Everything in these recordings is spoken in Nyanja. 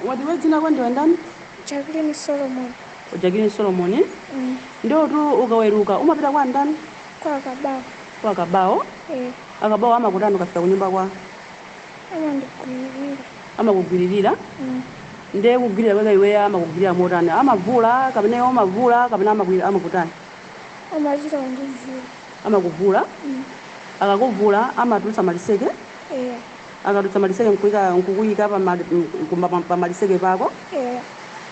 Wati iwe dzina lako ndiwe ndani Jacqueline Solomon Jacqueline Solomon eh? mm. ndiye tu ukaweruka umapita kwa ndani kwa kabao kwa akabawo eh, akabawo amakutani ukafika kunyumba kwawo amandigwirira amakugwiririra mm. nde kugwirira kwake iweyo amakugwirira motani amavula kapena iwe umavula kapena amakwi- amakutani amachita kundivula amakuvula akakuvula amatulutsa maliseke eya akatulutsa maliseke nkuika nkukuyika pamali- m- ku- pa- pamaliseke pako eya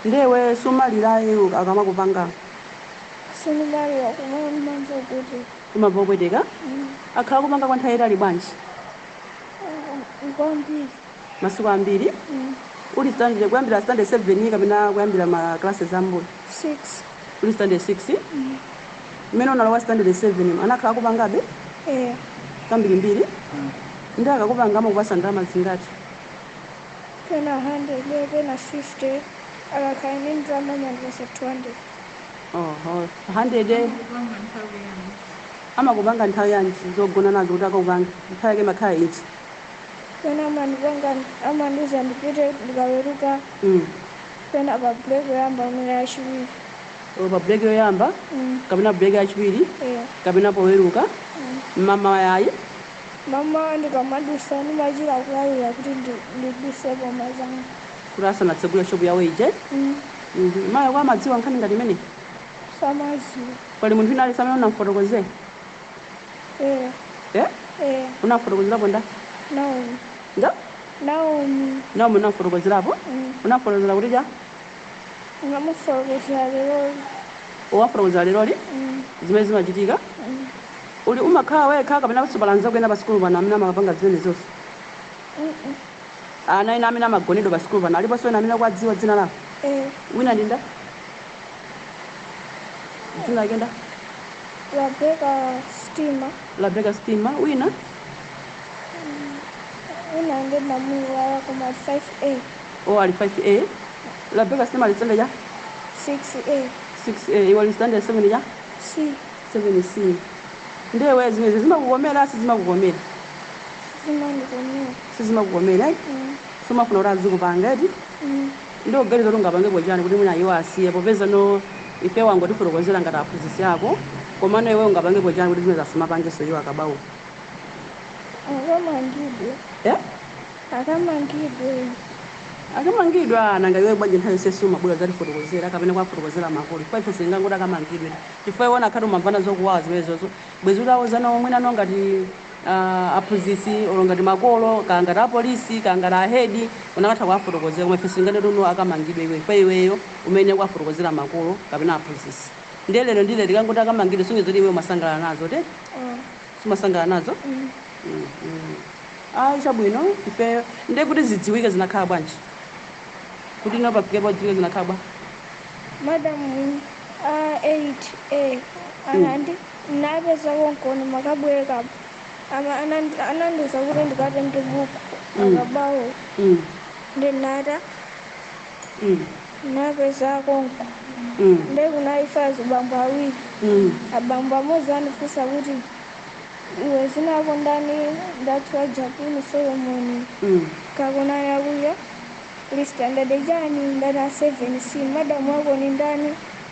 nde iwe sumalirayi akamakupanga sindimalira kumene ndimamva kuti umamva kupweteka akhala akukupanga kwa nthawi yayitali bwanji kwambiri masiku ambiri uli standard kuyambira standard 7 kapena kuyambira ma classes ambuyo Six. uli standard 6 mmene unalowa standard 7 mu, anakhala akukupangabe Eh. kambirimbiri nde akakupanga amakupasa ndalama zingati Pena 100, pena 50. Akakhala ndi ndalama amandipasa 200. oho 100 amakupanga nthawi yanji zogona nazo kuti akakupanga nthawi yake imakhala iti pena amandipanga amandiuza ndipite ndikaweruka Mm. pena pa break yoyamba pena yachiwiri Olo pa break yoyamba Mm. kapena break yachiwiri Eh, kapena poweruka mm. mmawa ayi mmawa ndikamadusa ndimachira kulawira kuti ndi- ndiduse mmamawa kuti asanatsegule shopu yawo ije Mm, Mhm. mayi ako amadziwa nkhani ngati imene samaziwa pali munthu wina aliyense amene unamfotokozera Eya. Eh? Eya. Unamfotokozerapo nda? Naomi. Nda? Naomi. Naomi unamfotokozerapo? Mm. Unamfotokozera kuti cha? Unamufotokozera leroli. Wamfotokozera leroli? Mm. Zimene zimachitika? Mm. Ndiye umakhala wekha kapena pali anzako ena pa sikulu pano amene amawapanga zimene zonse? Mm-mm. Ana ena amene amagonedwa pa sikulu pano aliponso ena amene ukuwadziwa dzina lawo? Eh. Wina ndi nda? dzina lake nda Rabeka Stima Rabeka stima wina wina ndi mamuwala koma 5A o ali 5a Rabeka stima ali standard cha 6A 6a iwe uli standard 7 ya C 7c nde iwe zimenezi zimakukomera sizimakukomera sizimandikomera sizimakukomera eh? Mm, sumafuna kuti azikupanga eti mm. Ndikuganiza kuti ungapangepo chani kuti mwina iwo asiye popezano ifeyo wangotifotokozera ngati aphunzitsi ako komano iweyo ungapangepo chani kuti zimenezo asamapangenso iwo akabauko Akamangidwe, eh? akamangidwe. akamangidwa nanga iwe bwanji nthawi yonse sumabwera kudzatifotokozera kapena kuwafotokozera makolo chifukwa ife sitingangoti akamangidwe chifukwa iwe unakhati umamvana zokuwawa zimenezozo bwezi utawuzanawo mwinano ngati uh, aphunzitsi olo ngati makolo kaya ngati apolisi kaya ngati ahedi unakatha kuwafotokozera koma ife sitinganene kuti akamangidwe iwe pa iweyo umene ukuwafotokozera makolo kapena aphunzitsi ndiye lero ndi lero tikangoti akamangidwe kusonyeza kuti iwe umasangalala nazo eti sumasangalala nazo mm. mm. ayi chabwino ife ndiye kuti zidziwike zinakhala bwanji kuti ino pafike po zidziwike zinakhala bwa madam a 8 A anandi Ndinapeza konko ndimakabwere kab ama anan anandiuza kuti ndikatenge buku akabawo nde ndinata ndinapeza konko nde kunali fayala azibambo awiri abambo amodzi andifunsa kuti iwe dzina lako ndani ndati wa Jacqueline Solomoni kakunali akuya uli standard chani ndati a 7 C madam wako nindani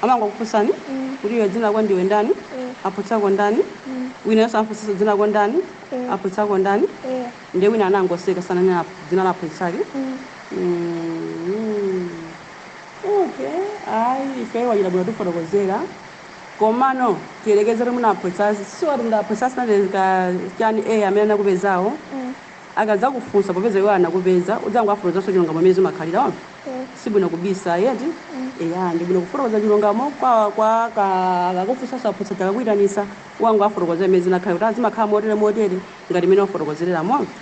Amangokufunsani kuti iwe dzina lako ndiwe ndani? Aphunzitsako ndani? Wina yense amamfunsanso dzina lako ndani? Aphunzitsako ndani? Ndiye wina anangoseka sananena aph- dzina la aphunzitsake. Mm. Okay. Ayi, ifeyo wachita bwino kutifotokozera. Komano tiyerekeze kuti mwina aphunzitsi si wati kuti aphunzitsi sanatenge chani A amene anakupezawo. Akadzakufunsa popeza iwo anakupeza, udzangowafotokozanso chilungamo mmene zimakhalira. Wamva? Si bwino kubisa ayi, eti? Eya, ndi bwino kufotokoza chilungamo kwa, kwa, ka, akakufunsanso aphunzitsi aja akakuitanitsa, ukangowafotokozera mmene zinakhalira kuti, ah, zimakhala motere motere, ngati mmene wafotokozerera. Mwamva?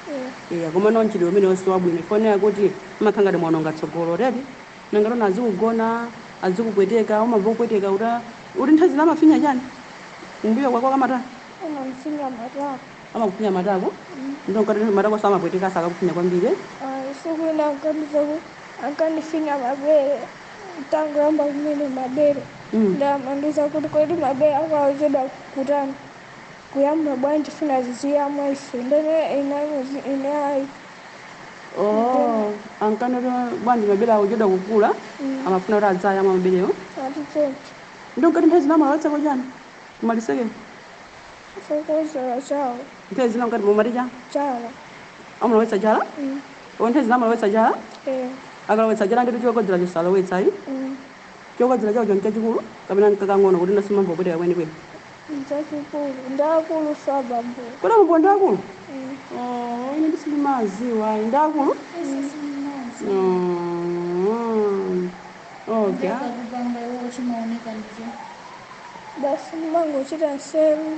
Eya, komano mchitidwe umenewo si wabwino chifukwa umaona kuti umakhala ngati mwawononga tsogolo, eti? Nanga tona azikugona, azikupweteka, umamva kupweteka kuti, ah, kuti nthawi zina amafinya chiyani? Kumbuyo kwako kamatani? Amafinya matako. amakufinya matako ndiye mkati matako samapweteka akakufinya kwambiri eh? Ayi, tsiku lina ankandiza ku ankandifinya mabere nditangoyamba kumene mabere Mm. nde amandiuza kuti kodi mabere ako akuchedwa kutani kuyamba bwanji tifuna tiziyamwa ife ndene ndinamuuza ine ayi oh ankanena kuti bwanji mabere akuchedwa kukula amafuna kuti aziyamwa maberewo ati choncho ndiye mkati nthawi zina amalowetsako chani kumaliseke nthawi zina ngati momati chala amalowetsa chala o nthawi zina amalowetsa chala akalowetsa chala ndi chokodzera chosalowetsa ayi chokodzera chawo choncho chachikulu kapena nkakang'ono kuti sumamva kupweteka kwenikweni chachikulu ndi akulu ngati abambo kodi abambo ndi akulu Oh, ine ndisamadziwa ayi ndi akulu Mm. Okay. Basi ndimangochita nseru.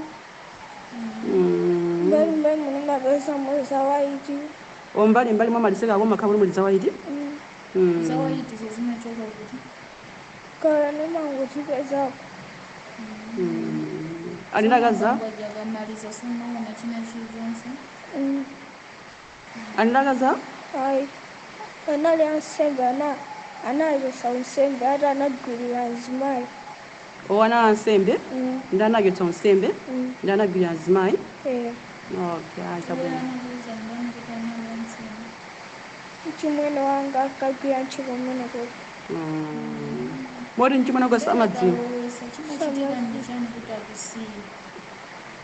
Mm. Mbali mbali ndimapeza muli za waiti. O mbali mbali mwa maliseka ako mumakhala kuti muli za waiti. Mm. Za waiti zo zimachokera kuti. Kaya ndimangozipezako. Mm. Ali ndi akazi a? Samagwagwa akamaliza sumaona china chilichonse. Mm. Ali ndi akazi? Ayi. Anali ansembe ana anawachotsa unsembe ati anagwiririra mzimayi. Oh anali ansembe Mm. nde anawachotsa unsembe Mm. nde anagwiririra mzimayi. Eh. Okay, ayi Iwo chabwino. anakuuza ndani kuti anali wansembe? Mchimwene wanga ankagwira ntchito kumenekoko. Mm. Moti mchimwene wako Kenaka samadziwa. iwe usachitika ndi chani kuti akusiye?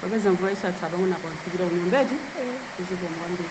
Popeza mvula yasiya pang'ono apa ufikira kunyumba eti? Zikomo kwambiri.